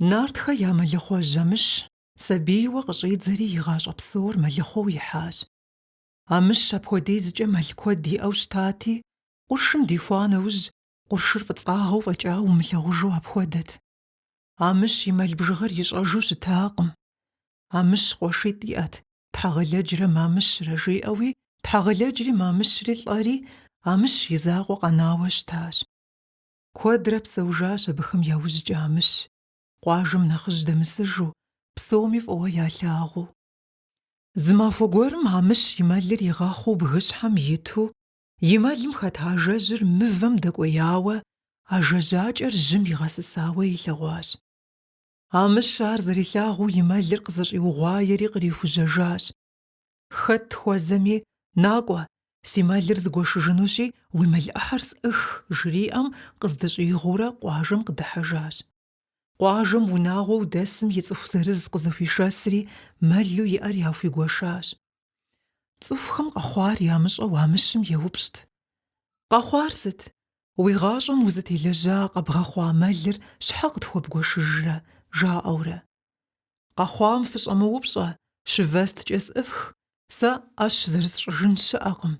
Нартхэ я мэлыхъуэжь Амыщ сабийуэ къыщӏидзэри и гъащӏэ псор мэлыхъуэу ихьащ. Амыщ апхуэдизкӏэ мэл куэд иӏэу щытати, къуршым дихуа нэужь, къуршыр фӏыцӏагъэу фӏэкӏа умылъагъужу апхуэдэт. Амыщ и мэл бжыгъэр ищӏэжу щытакъым. Амыщ къуэшитӏ иӏэт, Тхьэгъэлэджрэ Мамыщрэ жиӏэуи, Тхьэгъэлэджри Мамыщри лӏэри, Амыщ и закъуэ къэнауэ щытащ. Куэдрэ псэужащ абыхэм яужькӏэ Амыщ, къуажэм нэхъыжь дэмысыжу, псоми фӏыуэ ялъагъуу. Зы махуэ гуэрым Амыщ и мэлыр игъэхъуу бгыщхьэм иту, и мэлым хэт ажэжьыр мывэм дэкӏуеяуэ, ажэжьакӏэр жьым игъэсысауэ илъэгъуащ. Амыщ ар зэрилъагъуу и мэлыр къызэщӏиугъуаери кърихужьэжащ, Хэт хуэзэми, накӏуэ, си мэлыр зыгуэшыжынущи, уи мэл ӏыхьэр сӏых, жриӏэм, къыздыщӏигъуурэ къуажэм къыдыхьэжащ. Къуажэм унагъуэу дэсым и цӏыху зырыз къызыхуишэсри, мэлу иӏэр яхуигуэшащ. Цӏыхухэм къэхъуар ямыщӏэу Амыщым еупщӏт. Къэхъуар сыт? Уи гъащӏэм узытелэжьа къэбгъэхъуа мэлыр щхьэ къытхуэбгуэшыжрэ? жаӏэурэ. Къэхъуам фыщӏэмыупщӏэ, щывэсткӏэ сӏыфх, сэ ӏэщ зэрысщӏыжын щыӏэкъым,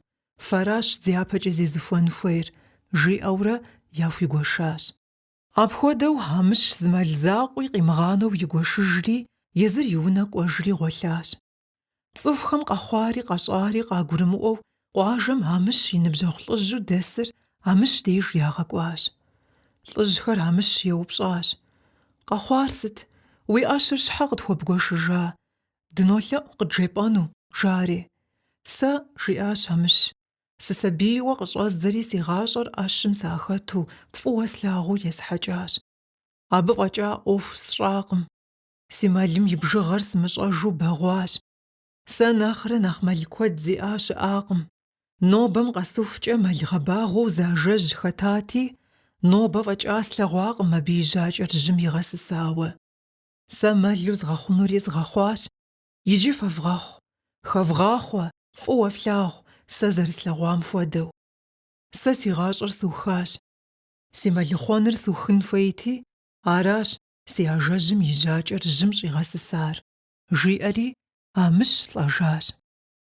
фэращ дяпэкӏэ зезыхуэн хуейр, жиӏэурэ яхуигуэшащ. Апхуэдэу Амыщ зы мэл закъуи къимыгъанэу игуэшыжри, езыр и унэ кӏуэжри гъуэлъащ. Цӏыхухэм къэхъуари къэщӏари къагурымыӏуэу, къуажэм Амыщ и ныбжьэгъу лӏыжьу дэсыр Амыщ деж ягъэкӏуащ. Лӏыжьхэр Амыщ еупщӏащ, Къэхъуар сыт? Уи ӏэщыр щхьэ къытхуэбгуэшыжа? Дынолъэӏу къыджепӏэну, жари. Сэ, жиӏащ Амыщ, сысабийуэ къыщӏэздзэри си гъащӏэр ӏэщым сахэту, фӏыуэ слъагъуу есхьэкӏащ. Абы фӏэкӏа ӏуэху сщӏакъым. Си мэлым и бжыгъэр сымыщӏэжу бэгъуащ. Сэ нэхърэ нэхъ мэл куэд зиӏа щыӏакъым. Нобэм къэсыхукӏэ мэл гъэбагъуэу зы ажэжь хэтати, нобэ фӏэкӏа слъэгъуакъым абы и жьакӏэр жьым игъэсысауэ. Сэ мэлу згъэхъунури згъэхъуащ. Иджы фэвгъэхъу, хэвгъахъуэ, фӏыуэ флъагъу, сэ зэрыслъэгъуам хуэдэу. Сэ си гъащӏэр сухащ. Си мэлыхъуэныр сухын хуейти, аращ си ажэжьым и жьакӏэр жьым щӏигъэсысар, жиӏэри, Амыщ лӏэжащ.